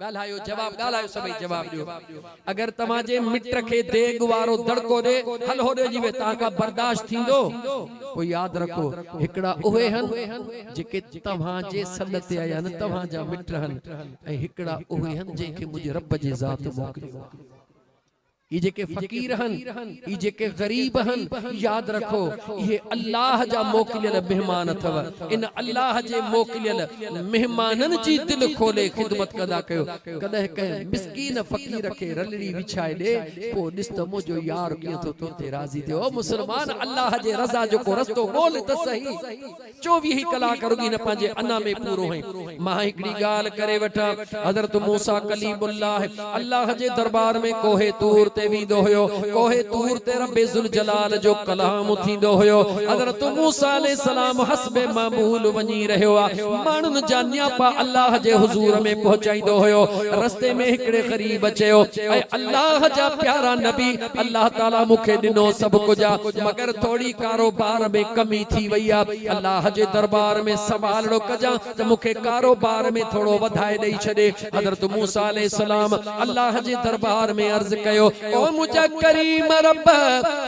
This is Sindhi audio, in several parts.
ڳالهايو جواب ڳالهايو سڀئي جواب ڏيو اگر توهان جي مٽ کي ديڳ وارو دڙڪو ڏي هل هوڏي جي وي توهان کان برداشت ٿيندو پوء ياد رکو هڪڙا اهي هن جيڪي توهان جي سڏ تي آيا آهن توهان جا مٽ هن ۽ هڪڙا اهي هن جنهن کي منهنجي رب جي ذات موڪليو آهي. اهي جيڪي فقير هن، اهي جيڪي غريب هن، ياد رکو اهي الله جا موڪليل مهمان اٿو، ان الله جي موڪليل مهمانن جي دل کولي خدمت ڪندا ڪيو، ڪڏهن ڪنهن مسڪين فقير کي رلڙي وڇائي ڏي، پوء ڏس ته منهنجو يار ڪيئن ٿو تو تي راضي ٿئي، او مسلمان الله جي رضا جو ڪو رستو ڳولھ ته سهي. چوويهه ڪلاڪ رڳي نه پنهنجي انا ۾ پورو هئين. مان هڪڙي ڳالهه ڪري وٺان. حضرت موسيٰ ڪليم الله الله جي درٻار ۾ ڪوهه طور تي ويندو هيو. ڪوهه طور تي ربّ ذوالجلال جو ڪلام ٿيندو هيو. حضرت موسيٰ عليه السلام حسب معمول وڃي رهيو آ. ماڻهن جا نياپا الله جي حضور ۾ پهچائيندو هيو. رستي ۾ هڪڙي غريب چيو، اي الله جا پيارا نبي! الله تعالي مون کي ڏنو سڀ ڪجهه آ مگر ٿوري ڪاروبار ۾ ڪمي ٿي وئي آ الله جي دربار ۾ سوالڙو ڪجان ته مون کي ڪاروبار ۾ ٿورو وڌائي ڏئي ڇڏي حضرت موسيٰ عليه السلام الله جي دربار ۾ عرض ڪيو او منهنجا ڪريم رب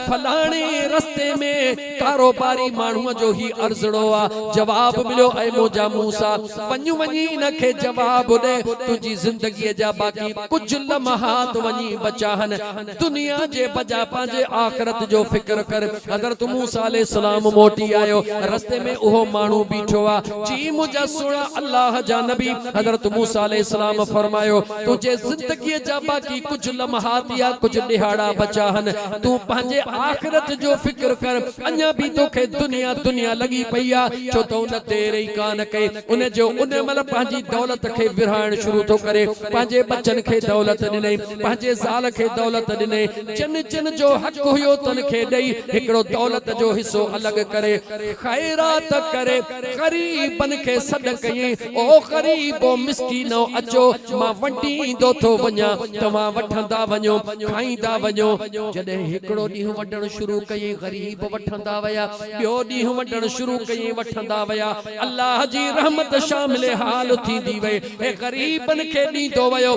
فلاڻي رستي ۾ ڪاروباري ماڻهو جو هي عرضڙو آ جواب مليو اي منهنجا موسيٰ وڃ وڃي ان کي جواب ڏي تنهنجي زندگي جا باقي ڪجهه لمحات وڃي بچا هن دنيا جي بجا پنهنجي آخرت جو فڪر ڪر حضرت موسي عليه السلام موٽي آيو رستي ۾ اهو ماڻهو بيٺو آ جي منهنجا سهڻا الله جا نبي حضرت موسي عليه السلام فرمايو تنهنجي زندگي جا باقي ڪجهه لمحات يا ڪجهه ڏهاڙا بچا هن تون پنهنجي آخرت جو فڪر ڪر اڃا به توکي دنيا دنيا لڳي پئي آ ڇو ته ان دير ئي ڪانه ڪئي ان جو ان مهل پنهنجي دولت کي ورهائڻ شروع ٿو ڪري پنهنجي ٻچن کي دولت ڏنئي پنهنجي زال کي دولت ڏني، جن جن جو حق هيو تن کي ڏئي، هڪڙو دولت جو حصو الڳ ڪري خيرات ڪري غريبن کي سڏ ڪيئي، او غريبو مسڪينؤ اچو مان ونڊيندو ٿو وڃان، توهان وٺندا وڃو کائيندا وڃو. جڏهن هڪڙو ڏينهن ونڊڻ شروع ڪيئي غريب وٺندا ويا، ٻيو ڏينهن ونڊڻ شروع ڪيئي وٺندا ويا، الله جي رحمت شامل حال ٿيندي وئي، هي غريبن کي ڏيندو ويو.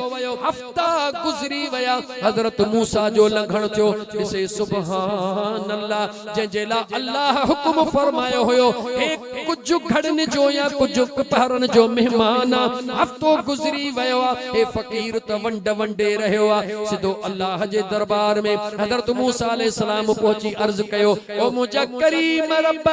وقت گذري ويا حضرت موسيٰ جو لنگھڻ ٿيو ڏسي سبحان الله جنهن جي لاء الله حڪم فرمايو هيو هي ڪجھ گھڙين جو يا ڪجھ پهرن جو مهمان آ هفتو گذري ويو آ هي فقير ته ونڊ ونڊي رهيو آ سڌو الله جي دربار ۾ حضرت موسيٰ عليه السلام پهچي عرض ڪيو او منهنجا ڪريم رب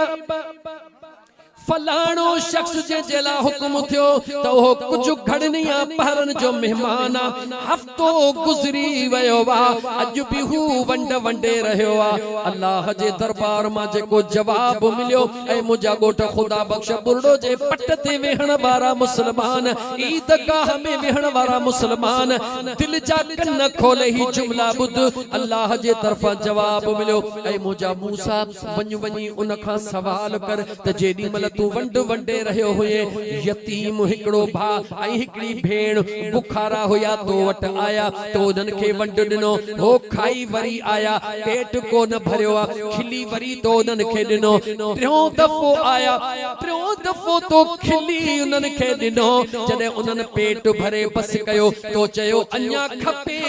فلاڻو شخص جنهن جي لاء حڪم اٿيو ته اهو ڪجهه گهڙني يا پهرن جو مهمان آ، هفتو گذري ويو آ، اڄ به هو ونڊ ونڊي رهيو آ. الله جي دربار مان جيڪو جواب مليو ۽ منهنجا ڳوٺ خدا بخش ٻرڙو جي پٽ تي ويهڻ وارا مسلمان، عيد گاهه ۾ ويهڻ وارا مسلمان، دل جا ڪن کولي هي جملا ٻڌ، الله جي طرفان جواب مليو ۽ منهنجا موسيٰ، وڃ وڃي ان کان سوال ڪر ته جيڏي مھل تون ونڊ ونڊي رھيو ھئين، يتيم، ھڪڙو ڀاء ۽ ھڪڙي ڀيڻ، بکارا ھيا تو وٽ آيا، تو انھن کي ونڊ ڏنو ھو، کائي وري آيا، پيٽ ڪو نه ڀريو آ، کلي وري تو انھن کي ڏنو، ٽيون دفعو آيا، ٽيون دفعو تو کلي انھن کي ڏنو، جڏھن انھن پيٽ ڀري بس ڪيو، تو چيو اڃا کپيو.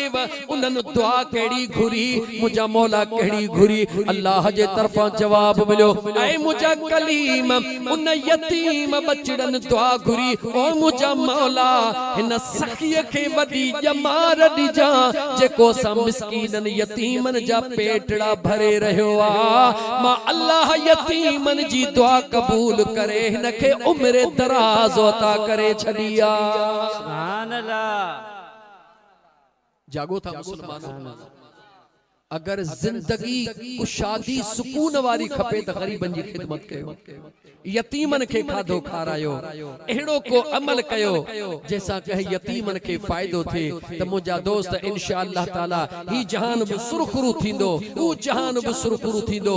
انهن دعا ڪهڙي گهري، منهنجا مولا ڪهڙي گهري، الله جي طرفان جواب مليو، اي منهنجا ڪليم! ان يتيم ٻچڙن دعا گهري، او منهنجا مولا! هن سخي کي وڏي ڄمار ڏجان، جيڪو اسان مسڪينن يتيمن جا پيٽڙا ڀري رهيو آ. مان الله يتيمن جي دعا قبول ڪري هن کي عمر دراز عطا ڪري ڇڏي آ. سبحان الله. جاڳو ٿا مسلمانو! اگر زندگي ڪشادي سڪون واري کپي ته غريبن جي خدمت ڪيو، يتيمن کي کاڌو کارايو، اهڙو ڪو عمل ڪيو جنهن سان ڪنهن يتيمن کي فائدو ٿئي ته منهنجا دوست انشاء الله تعالي هي جهان به سرخرو ٿيندو، هو جهان به سرخرو ٿيندو،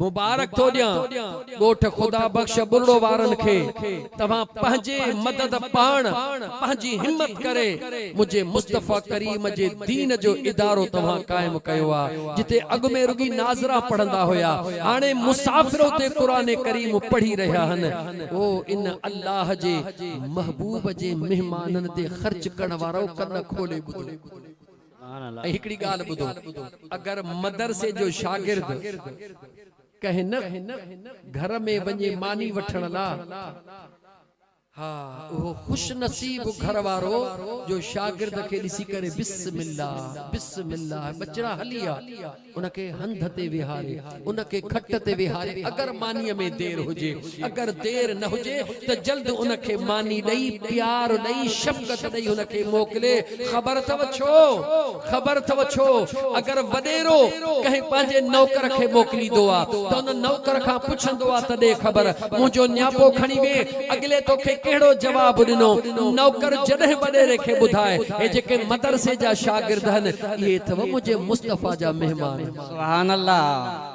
مبارڪ ٿو ڏيان ڳوٺ خدا بخش ٻرڙو وارن کي توهان پنهنجي مدد پاڻ پنهنجي همت ڪري منهنجي مصطفي ڪريم جي دين جو ادارو توهان قائم ڪيو آ جتي اڳ ۾ رڳي ناظرا پڙهندا هيا هاڻي مسافر اتي قرآن ڪريم پڙهي رهيا هن او ان الله جي محبوب جي مهمانن تي خرچ ڪرڻ وارؤ ڪن کولي ٻڌو. ۽ هڪڙي ڳالهه ٻڌو، اگر مدرسي جو شاگرد ڪنهن نه گهر ۾ وڃي ماني وٺڻ لا، ها اهو خوش نصيب گهر وارو جو شاگرد کي ڏسي ڪري بسم الله بسم الله ٻچڙا هلي آ. ان کي هنڌ تي ويهاري، ان کي کٽ تي ويهاري، اگر مانيء ۾ دير هجي، اگر دير نه هجي ته جلد ان کي ماني ڏئي، پيار ڏئي، شفقت ڏئي هن کي موڪلي. خبر اٿئو ڇو؟ خبر اٿئو ڇو؟ اگر وڏيرو ڪنهن پنهنجي نوڪر کي موڪليندو آ ته ان نوڪر کان پڇندو آ ته ڏي خبر، منهنجو نياپو کڻي وئين، اڳلي توکي ڪهڙو جواب ڏنو؟ نوڪر جڏهن وڏيري کي ٻڌائي، هي جيڪي مدرسي جا شاگرد هن، اهي اٿم منهنجي مصطفيٰ جا مهمان هن. سبحان الله.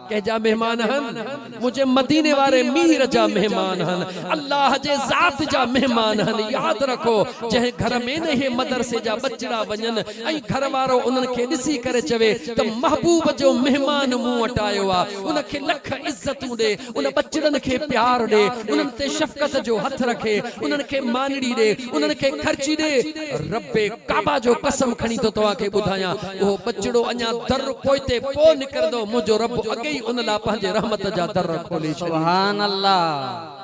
ڪنهن جا مهمان هن؟ منهنجي مديني واري مير جا مهمان هن. الله جي ذات جا مهمان هن. ياد رکو جنهن گهر ۾ نه اهي مدرسي جا ٻچڙا وڃن ۽ گهر وارو انهن کي ڏسي ڪري چوي ته محبوب جو مهمان مون وٽ آيو آ ان کي لک عزتون ڏي ان ٻچڙن کي پيار ڏي، انهن تي شفقت جو هٿ رک، انهن کي مانيڙي ڏي، انهن کي خرچي ڏي. ربّ ڪعبه جو قسم کڻي ٿو توهان کي ٻڌايان، اهو ٻچڙو اڃا در پوئتي پوء نڪرندو، منهنجو ربّ اڳي ئي ان لاء پنهنجي رحمت جا در کولي ڇڏيندا. سبحان الله.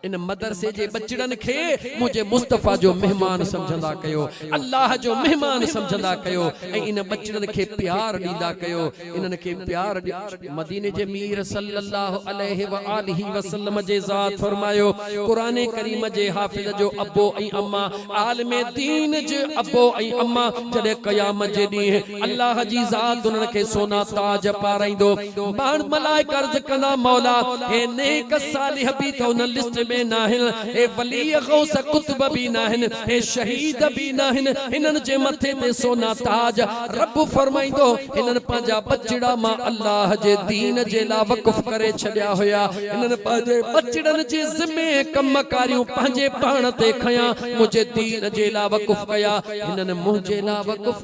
ان مدرسي جي ٻچڙن کي منهنجي مصطفيٰ جو مهمان سمجهندا ڪيو، الله جو مهمان سمجهندا ڪيو ۽ ان ٻچڙن کي پيار ڏيندا ڪيو، انهن کي پيار ڏيو. مديني جي مير صلّي اللّٰه عليه واٰله وسلّم جي ذات فرمايو، قرآن ڪريم جي حافظ جو ابو ۽ اما، عالم دين جي ابو ۽ اما جڏهن قيامت جي ڏينهن، الله جي ذات انهن کي سونا تاج پارائيندو. ماڻ، ملائڪ، عرض ڪندا، مولا! اهي نيڪ، صالح به ته ان لسٽ ۾ ناهن، اهي ولي، غوث، قطب به ناهن، اهي شهيد به ناهن، هنن جي مٿي تي سونا تاج؟ رب فرمائيندو، هنن پنهنجا ٻچڙا مان الله جي دين جي لا وقف ڪري ڇڏيا هيا، هنن پنهنجي ٻچڙن جي ذمي ۽ ڪم ڪاريون پنهنجي پاڻ تي کنيا، منهنجي دين جي لا وقف ڪيا، هنن منهنجي لا وقف.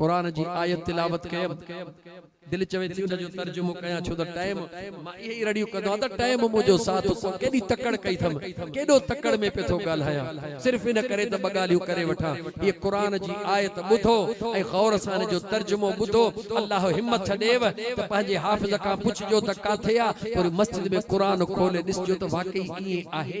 قرآن جي آيت تلاوت ڪيم دل چوي ٿي ان جو ترجمو ڪيان ڇو ته ٽيم مان اهي ئي رڙيون ڪندو آهيان ته ٽيم منهنجو ساٿ سو ڪيڏي تڪڙ ڪئي اٿم ڪيڏو تڪڙ ۾ پئي ٿو ڳالهايان صرف ان ڪري ته ٻه ڳالهيون ڪري وٺان هيء قرآن جي آيت ٻڌو ۽ غور سان ان جو ترجمو ٻڌو الله همٿ ڏيئو ته پنهنجي حافظ کان پڇجو ته ڪاٿي آ پوري مسجد ۾ قرآن کولي ڏسجو ته واقعي ائين آهي.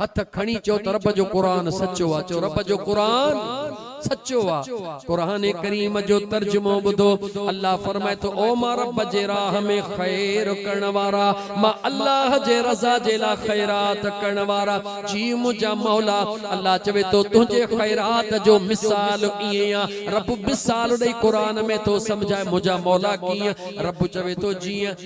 هٿ کڻي چئو ته رب جو قرآن سچو آ چئو رب جو قرآن سچو آ قرآن ڪريم جو ترجمو ٻڌو الله فرمائي ٿو او مان رب جي راهه ۾ خير ڪرڻ وارا مان الله جي رضا جي لاء خيرات ڪرڻ وارا جي منهنجا مولا الله چوي ٿو تنهنجي خيرات جو مثال ائين آ رب مثال ڏئي قرآن ۾ ٿو سمجهائي منهنجا مولا ڪيئن رب چوي ٿو جيئن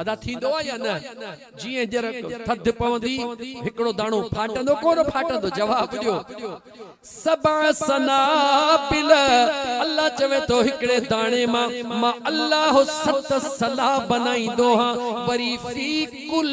ادا ٿيندو آ يا نه؟ جيئن ڄر ٿڌ پوندي هڪڙو داڻو ڦاٽندو ڪونه ڦاٽندو جواب ڏيو سبع سنابل الله چوي ٿو هڪڙي داڻي مان مان الله ست سلا بنائيندو هان وري في ڪل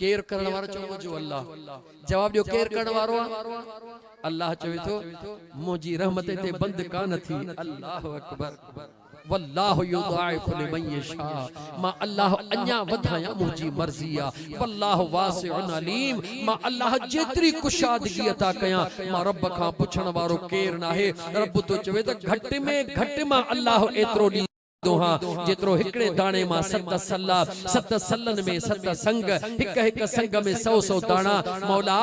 ڪير ڪرڻ وارو چئو منهنجو الله جواب ڏيو ڪير ڪرڻ وارو آهي الله چوي ٿو منهنجي رحمت تي بند ڪانه ٿي الله اڪبر والله يضاعف لمن يشاء ما الله اڃا وڌايان منهنجي مرضي آ والله واسع عليم ما الله جيتري ڪشادگي عطا ڪيان ما رب کان پڇڻ وارو ڪير ناهي رب ٿو چوي ته گهٽ ۾ گهٽ ما الله ايترو ڏي دونهان، جيترو هڪڙي داڻي مان ست صلا، ست صلن ۾ ست سنگ، هڪ هڪ سنگ ۾ سئو سئو داڻا، مولا!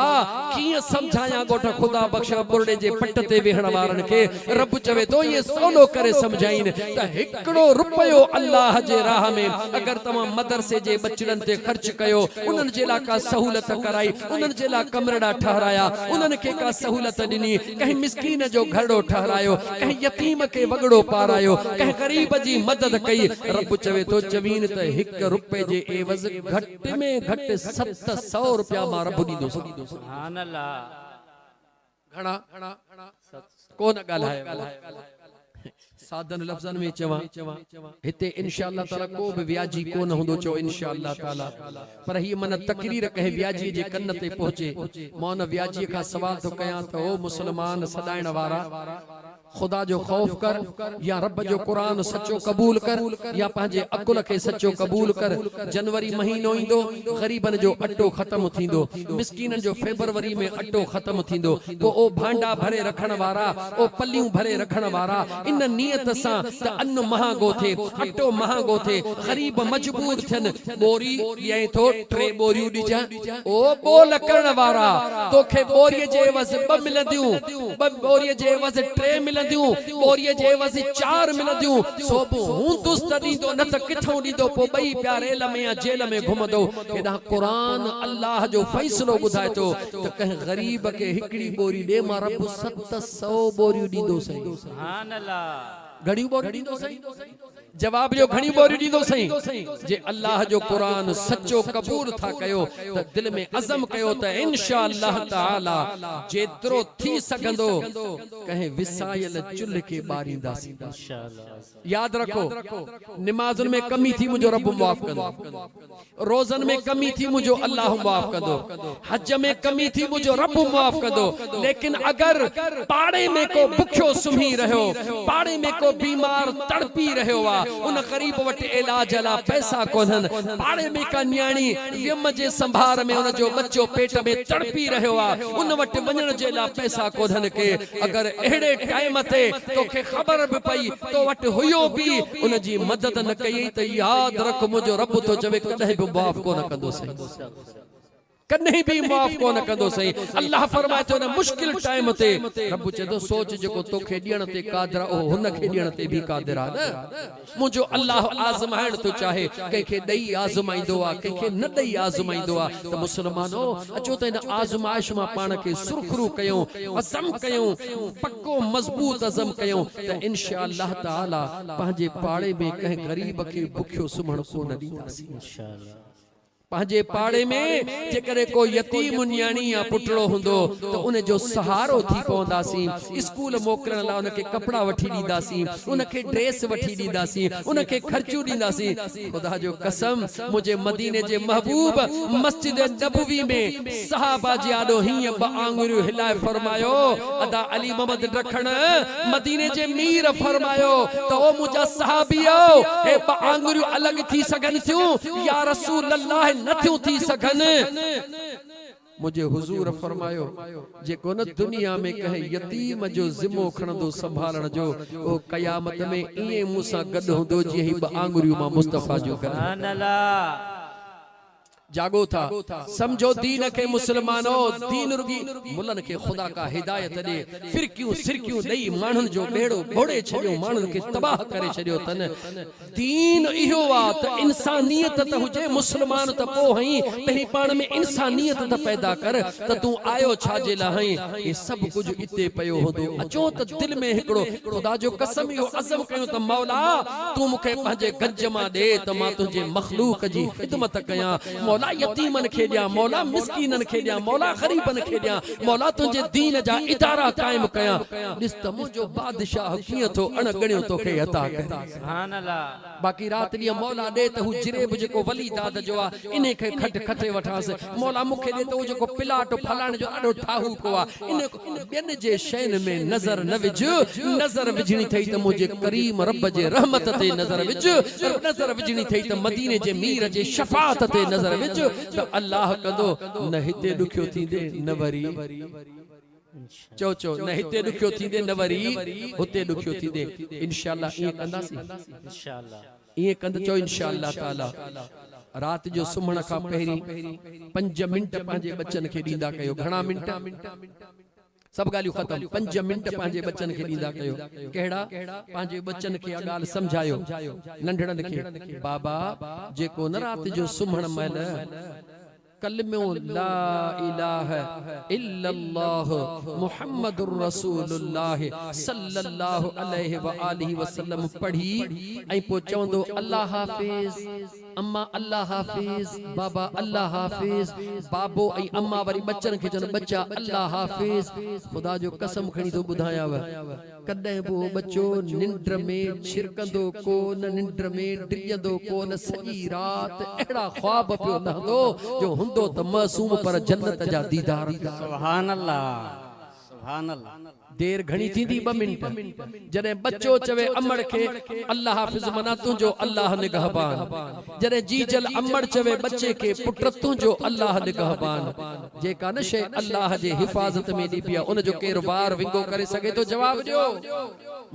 ڪيئن سمجهايان ڳوٺ خدا بخش ٻرڙي جي پٽ تي ويهڻ وارن کي، رب چوي ٿو ائين سولو ڪري سمجهائين ته هڪڙو رپيو الله جي راهه ۾ اگر توهان مدرسي جي ٻچڙن تي خرچ ڪيو، انهن جي لاء ڪا سهولت ڪرائي، انهن جي لاء ڪمرڙا ٺهرايا، انهن کي ڪا سهولت ڏني، ڪنهن مسڪين جو گهرڙو ٺهرايو، ڪنهن يتيم کي وڳڙو پارايو، ڪنهن غريب جي مدد ڪئي، رب چوي ٿو چوين ته هڪ رپئي جي عيوض گهٽ ۾ گهٽ ست سؤ رپيا مان رب ڏيندوسان. گهڻا ڪو نه ڳالهايو. سادن لفظن ۾ چوان هتي انشاء الله تعالي ڪو به وياجي ڪونه هوندو چئو انشاء الله تعالي پر هيء من تقرير ڪنهن وياجي جي ڪن تي پهچي مان ان وياجي کان سوال ٿو ڪيان ته او مسلمان سڏائڻ وارا خدا جو خوف ڪر يا رب جو قرآن سچو قبول ڪر يا پنهنجي عقل کي سچو قبول ڪر جنوري مهينو ايندو غريبن جو اٽو ختم ٿيندو مسڪينن جو فيبروري ۾ اٽو ختم ٿيندو پوء او ڀانڊا ڀري رکڻ وارا، او پليون ڀري رکڻ وارا، ان نيت سان ته ان مهانگو ٿئي، اٽو مهانگو ٿئي، غريب مجبور ٿين، ٻوري ڏيئين ٿو، ٽي ٻوريون ڏجانء. او ٻول ڪرڻ وارا، توکي ٻوريء جي عيوض ٻه ملنديون، ٻه ٻوريء جي عيوض ٽي ملنديون، ٻوريء جي عيوض چار ملنديون، سو به هوندس ته ڏيندو، نه ته ڪٿئون ڏيندو، پوء ٻئي پيا ريل ۾ يا جيل ۾ گهمندو. هيڏانهن قرآن الله جو فيصلو ٻڌائي ٿو، ته ڪنهن غريب کي هڪڙي ٻوري ڏي مان رب ست سئو ٻوريون ڏيندو سائين. گهڻيون ٻوريون ڏيندو سائين؟ جواب ڏيو گهڻيون ٻوريون ڏيندو سائين؟ جي الله جو قرآن سچو قبول ٿا ڪيو ته دل ۾ عزم ڪيو ته انشاء الله تعالي جيترو ٿي سگهندو ڪنهن وسايل چلهه کي ٻارينداسين. ياد رکو نمازن ۾ ڪمي ٿي منهنجو رب معاف ڪندو روزن ۾ ڪمي ٿي منهنجو الله معاف ڪندو حج ۾ ڪمي ٿي منهنجو رب معاف ڪندو ليڪن اگر پاڙي ۾ ڪو بکيو سمهي رهيو پاڙي ۾ ڪو بيمار تڙپي رهيو آ ان غريب وٽ علاج لا پئسا ڪونهن پاڙي ۾ ڪا نياڻي ويم جي سنڀار ۾ ان جو ٻچو پيٽ ۾ تڙپي رهيو آ ان وٽ وڃڻ جي لا پئسا ڪونهن ڪي اگر اهڙي ٽائيم تي توکي خبر به پئي تو وٽ هيو به ان جي مدد نه ڪيئي ته ياد رک منهنجو رب ٿو چوي ڪڏهن به معاف ڪونه ڪندوسين ڪڏهن به معاف ڪونه ڪندوسين الله فرمائي ٿو ان مشڪل ٽائيم تي رب چوي ٿو سوچ جيڪو توکي ڏيڻ تي قادر آهي اهو هن کي ڏيڻ تي به قادر آهي نه منهنجو الله آزمائڻ ٿو چاهي، ڪنهن کي ڏئي آزمائيندو آ، ڪنهن کي نه ڏئي آزمائيندو آ ته مسلمانو! اچو ته هن آزمائش مان پاڻ کي سرخرو ڪيون، عزم ڪيون، پڪو مضبوط عزم ڪيون ته انشاء الله تعاليٰ پنهنجي پاڙي ۾ ڪنهن غريب کي بکيو سمهڻ ڪونه ڏينداسين. پنهنجي پاڙي ۾ جيڪڏهن ڪو يتيم نياڻي يا پٽڙو هوندو ته ان جو سهارو ٿي پونداسين، اسڪول موڪلڻ لاء ان کي ڪپڙا وٺي ڏينداسين، ان کي ڊريس وٺي ڏينداسين، ان کي خرچيون ڏينداسين. خدا جو قسم! منهنجي مديني جي محبوب مسجد نبوي ۾ صحابه جي آڏو هيئن ٻه آڱريون هلائي فرمايو، ادا علي محمد ڊکڻ، مديني جي مير فرمايو ته او منهنجا صحابيؤ! هي ٻه آڱريون الڳ ٿي سگهن ٿيون؟ يا رسول الله نه ٿيون ٿي سگهن؟ منهنجي حضور فرمايو، جي ڪونه دنيا ۾ ڪنهن يتيم جو ذمو کڻندو سنڀالڻ جو، اهو قيامت ۾ ائين مون سان گڏ هوندو جيئن هي ٻه آڱريون مان مصطفيٰ جون گڏ هونديون. جاڳو ٿا، سمجهو دين کي مسلمانؤ، دين رڳي ملن کي خدا ڪا هدايت ڏي، فرقيون سرقيون ڏئي ماڻهن جو ٻيڙو ٻوڙي ڇڏيو، ماڻهن کي تباهه ڪري ڇڏيو اٿن، دين اهو آ ته انسانيت ته هجي، مسلمان ته پوهئين، پهرين پاڻ ۾ انسانيت ته پيدا ڪر ته تون آيو ڇا جي لاء آهين؟ هي سڀ ڪجهه اتي پيو هوندو، اچو ته دل ۾ هڪڙو خدا جو قسم اهو عزم ڪيون ته مولا! تون مون کي پنهنجي گج مان ڏي ته مان تنهنجي مخلوق جي خدمت ڪيان، مولا يتيمن کي ڏيان، مولا مسڪينن کي ڏيان، مولا غريبن کي ڏيان، مولا تنهنجي دين جا ادارا قائم ڪيان، ڏس ته منهنجو بادشاهه ڪيئن ٿو اڻ ڳڻيو توکي عطا ڪري. باقي رات ڏينهن مولا ڏي ته هو جريب جيڪو ولي داد جو آ، انهي کي کٽ کٽي وٺانس. مولا مون کي ڏي ته اهو جيڪو پلاٽ ڦلاڻي جو ڏاڍو ٺاهوڪو آ، انهي کي ٻين جي شين ۾ نظر نه وجهه. نظر وجهڻي اٿئي ته منهنجي ڪريم رب جي رحمت تي نظر وجهه. نظر وجهڻي اٿئي ته مديني جي مير جي شفاعت تي نظر وجهه ته الله ڪندو، نه هتي ڏکيو ٿيندين نه وري. چؤ چؤ نه هتي ڏکيو ٿيندي نه وري هتي ڏکيو ٿيندي انشاء الله ائين ڪنداسين ائين ڪند چؤ انشاء الله تعالي رات جو سمهڻ کان پهرين پنج منٽ پنهنجي ٻچن کي ڏيندا ڪيو گهڻا منٽ سڀ ڳالهيون ختم پنج منٽ پنهنجي ٻچن کي ڏيندا ڪيو ڪهڙا پنهنجي ٻچن کي اها ڳالهه سمجهايو ننڍڙن کي بابا جيڪو نه رات جو سمهڻ مهل ڪلمو لا اله الا الله محمد رسول الله صلي الله عليه واٰله وسلم پڙهي ۽ پوء چوندو الله حافظ اما الله حافظ بابا الله حافظ بابو ۽ اما وري ٻچن کي چون ٻچا الله حافظ خدا جو قسم کڻي ٿو ٻڌايانو ڪڏهن به اهو ٻچو ننڊ ۾ ڇرڪندو ڪو نه، ننڊ ۾ ڊڄندو ڪو نه، سڄي رات اهڙا خواب پيو لهندو جو هوندو ته معصوم پر جنت جا ديدار پيو ڪري. سبحان الله سبحان الله. دير گهڻي ٿيندي ٻه منٽ. جڏهن ٻچو چوي امڙ کي الله حافظ معنيٰ تنهنجو الله نگهبان. جڏهن جيجل امڙ چوي ٻچي کي پٽ تنهنجو الله نگهبان. جيڪا نه شيء الله جي حفاظت ۾ ڏبي آهي ان جو ڪير وار ونگو ڪري سگهي ٿو جواب ڏيو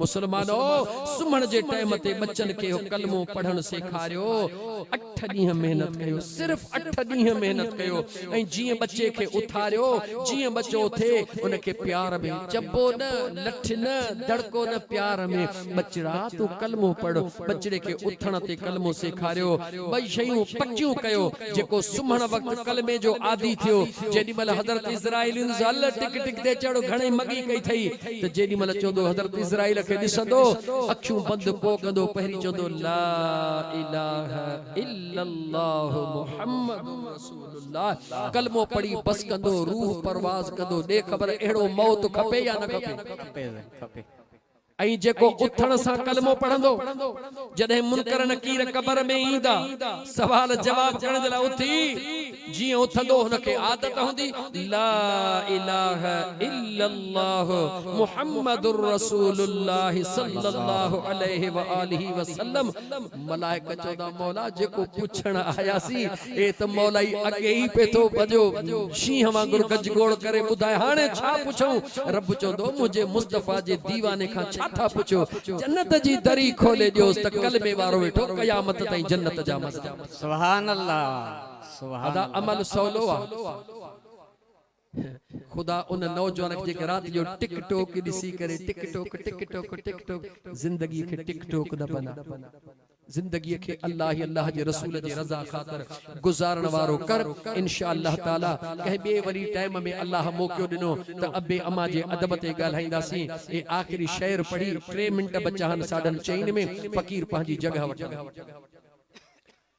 مسلمانو سمهڻ جي ٽيم تي ٻچن کي اهو ڪلمو پڙهڻ سيکاريو اٺ ڏينهن محنت ڪيو صرف اٺ ڏينهن محنت ڪيو ۽ جيئن ٻچي کي اٿاريو جيئن ٻچو اٿي ان کي پيار ۾ چٻو نه لٺ نه دڙڪو نه پيار ۾ ٻچڙا تون ڪلمو پڙهه. ٻچڙي کي اٿڻ تي ڪلمو سيکاريو. ٻئي شيون پڪيون ڪيو. جيڪو سمهڻ وقت ڪلمي جو عادي ٿيو، جيڏي مهل حضرت عزرائيل انس هل ٽڪ ٽڪ تي چڙهه گهڻي مڳي ڪئي ٿئي ته جيڏي مهل چوندو حضرت عزرائيل کي ڏسندو اکيون بند ڪو ڪندو پهرين چوندو لا اله الا الله محمد رسول الله ڪلمو پڙهي بس ڪندو روح پرواز ڪندو ڏي خبر اهڙو موت کپي يا نه کپي. ۽ جيڪو اٿڻ سان ڪلمو پڙهندو، جڏهن منڪر نڪير قبر ۾ ايندا، سوال جواب ڪرڻ جي لاء اٿي، جيئن اٿندو هن کي عادت هوندي، لا اله الا الله محمد رسول الله صلي الله عليه واٰله وسلم، ملائڪ چوندا مولا جيڪو پڇڻ آياسين اي ته مولائي اڳي ئي پئي ٿو ڀڄيو شينهن وانگر گج گوڙ ڪري ٻڌاء هاڻي ڇا پڇون رب چوندو منهنجي مصطفيٰ جي ديواني کان ڇا ٿا پڇو جنت جي دري کولي ڏيوس ته ڪلمي وارو ويٺو قيامت تائين جنت جا مزا وٺي. ادا عمل سولو آ. خدا ان نوجوان کي جيڪي رات جو ٽڪ ٽوڪ ڏسي ڪري ٽڪ ٽوڪ ٽڪ ٽوڪ ٽڪ ٽوڪ زندگي کي ٽڪ ٽوڪ نه بنا زندگي کي الله ۽ الله جي رسول جي رضا خاطر گذارڻ وارو ڪر انشاء الله تعالي ڪنهن ٻئي وري ٽائيم ۾ الله موقعو ڏنو ته ابي اما جي ادب تي ڳالهائينداسين اهي آخري شعر پڙهي ٽي منٽ بچا آهن ساڍن چئين ۾ فقير پنهنجي جڳهه وٺندو.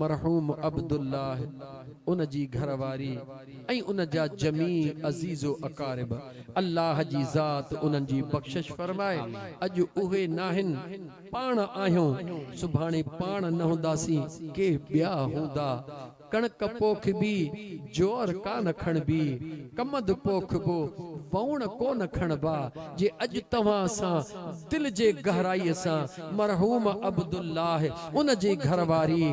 مرحوم عبدالله، ان جي گهر واري ۽ ان جا جميع عزيز و اقارب، الله جي ذات انهن جي بخشش فرمائي، اڄ اهي ناهن، پاڻ آهيون، سڀاڻي پاڻ نه هونداسين، ڪي ٻيا هوندا. ڪڻڪ پوکبي، جوئر ڪا نه کڻبي، ڪمند پوکبو، وئوڻ ڪو نه کڻبا، جي اڄ توهان سان دل جي گهرائيء سان مرحوم عبدالله، ان جي گهر واري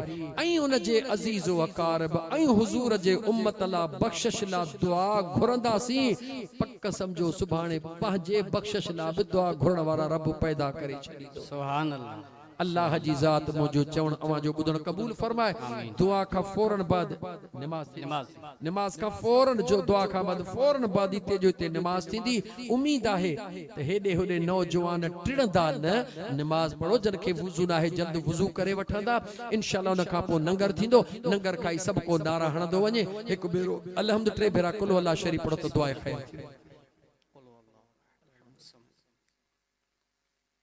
۽ ان جي عزيز و اقارب ۽ حضور جي امت لا بخشش لا دعا گهرنداسين، پڪ سمجهو سڀاڻي پنهنجي بخشش لا به دعا گهرڻ وارا رب پيدا ڪري ڇڏيندو. سبحان الله. الله جي ذات منهنجو چوڻ اوهان جو ٻڌڻ قبول فرمائي دعا کان فورن بعد نماز ٿيندي نماز کان فورن جو دعا کان بعد فورن بعد هتي جو هتي نماز ٿيندي اميد آهي ته هيڏي هوڏي نوجوان ٽڙندا نه نماز پڙهو جن کي وضو ناهي جلد وضو ڪري وٺندا انشاء الله ان کان پوء ننگر ٿيندو ننگر کائي سڀ ڪو نعرا هڻندو وڃي هڪ ڀيرو الحمد ٽي ڀيرا قل هو الله شريف پڙهو ته دعا خير ٿيندي.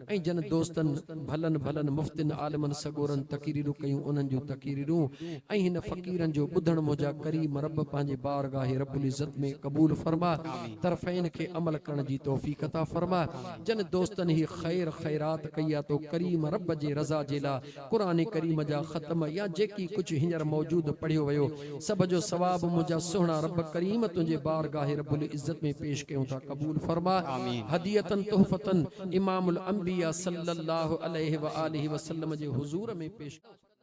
۽ جن دوستن، ڀلن ڀلن مفتين، عالمن، سڳورن تقريرون ڪيون انهن جون تقريرون ۽ هن فقيرن جو ٻڌڻ منهنجا ڪريم رب پنهنجي بارگاهه رب العزت ۾ قبول فرماء طرفين کي عمل ڪرڻ جي توفيق عطا فرماء جن دوستن هي خير خيرات ڪئي آ تو ڪريم رب جي رضا جي لاء قرآن ڪريم جا ختم يا جيڪي ڪجهه هينئر موجود پڙهيو ويو سڀ جو ثواب منهنجا سهڻا رب ڪريم تنهنجي بارگاهه رب العزت ۾ پيش ڪيون ٿا قبول فرماء هدية تحفة امام الانبياء صلّي اللّٰه عليه واٰله وسلّم جي حضور ۾ پيش